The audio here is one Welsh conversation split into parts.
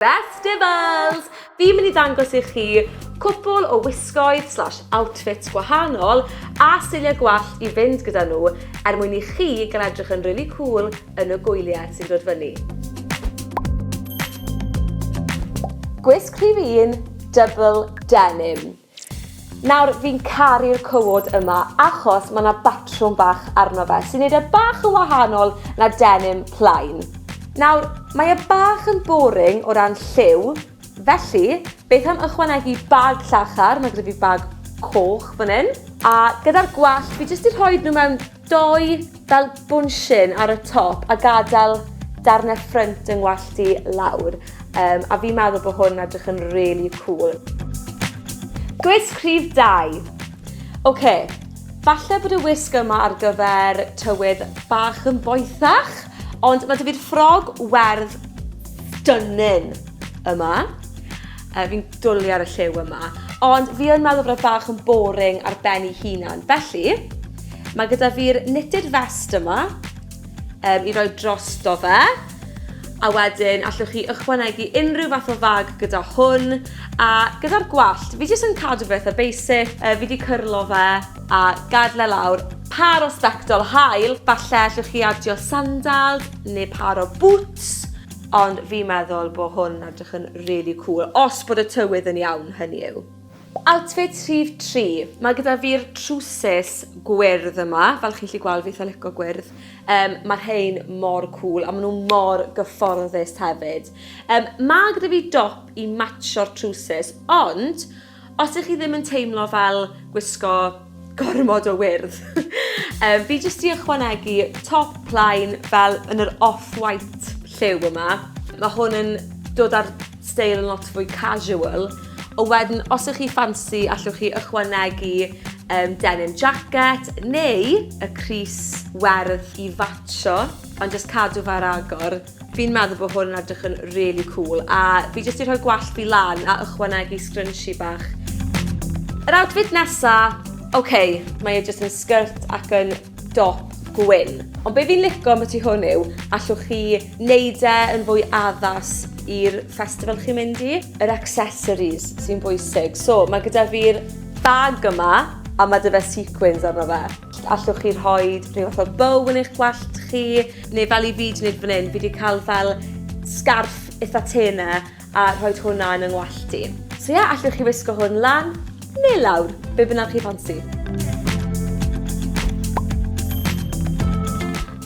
Festivals! Fi'n mynd i ddangos i chi cwpl o wisgoedd slash outfits gwahanol a seiliau gwallt i fynd gyda nhw er mwyn i chi gael edrych yn rili cŵl yn y gwyliau sy'n dod fyny. Gwisg rhif un, Double Denim. Nawr, fi'n caru'r cywod yma achos mae 'na batrwm bach arno fe sy'n neud e bach yn wahanol na denim plain. Nawr, mae e bach yn boring o ran lliw, felly beth am ychwanegu bag llachar, mae gyda fi bag coch fan 'yn, a gyda'r gwallt fi jyst 'di rhoid nhw mewn Doi fel bwnshyn ar y top a gadel darnau ffrynt yng ngwallt i lawr um, a fi'n meddwl bod hwn edrych yn really cool. Gwisg rhif 2. Oce, okay. falle bod y wisg yma ar gyfer tywydd bach yn boethach, ond mae dy fi'r ffrog werdd stunning yma. Yy fi'n dwli ar y lliw yma. Ond fi yn meddwl bod e bach yn boring ar ben ei hunan. Felly, mae gyda fi'r knitted vest yma um, i roi drosto fe. A wedyn, allwch chi ychwanegu unrhyw fath o fag gyda hwn. A gyda'r gwallt, fi jyst yn cadw fe eitha basic. Uh, fi wedi cyrlo fe a gadle lawr par o sbectol hael. Falle allwch chi adio sandals neu par o boots. Ond fi'n meddwl bo hwn yn edrych yn rili cwl, os bod y tywydd yn iawn, hynny yw. Outfit rhif tri. Mae gyda fi'r trwsus gwyrdd yma, fel chi'n 'llu gweld fi itha lico gwyrdd. Yym ma' rhein mor cwl a ma' nw mor gyfforddus hefyd. Yym ma' gyda fi dop i matsio'r trwsus ond Os ych chi ddim yn teimlo fel gwisgo gormod o wyrdd, um, fi jyst i ychwanegu top line fel yn yr off-white lliw yma. Mae hwn yn dod ar steil yn lot fwy casual. O wedyn, os ych chi ffansi, allwch chi ychwanegu um, denim jacket neu y Cris werdd i fatcho, ond jyst cadw fe ar agor. Fi'n meddwl bod hwn yn edrych yn really cool a fi jyst 'di rhoi gwallt fi lan a ychwanegu scrunchie bach. Yr outfit nesa, ok, mae e jyst yn skirt ac yn dop gwyn. Ond be fi'n lico am y tu hwn yw, allwch chi neud e yn fwy addas i'r festival chi'n mynd i. Yr accessories sy'n bwysig. So, mae gyda fi'r bag yma a mae 'da fe sequins arno fe. Allwch chi rhoi rhyw fath o bow yn eich gwallt chi? Neu fel i fi 'di neud fan 'yn, fi 'di ca'l fel sgarff itha tê 'na a rhoid hwnna yn yng ngwallt i. So ie, allwch chi wisgo hwn lan ne' lawr, be' bynnag chi ffansi.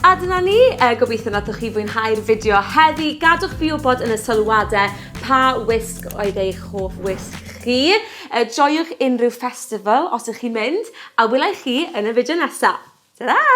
A dyna ni, yy gobitho nathoch chi fwynhau'r fideo heddi, gadwch fi wbod yn y sylwade pa wisg oedd eich hoff wisg chi. Er joiwch unrhyw festival os ych chi'n mynd, a wela i chi yn y fideo nesa! Tara!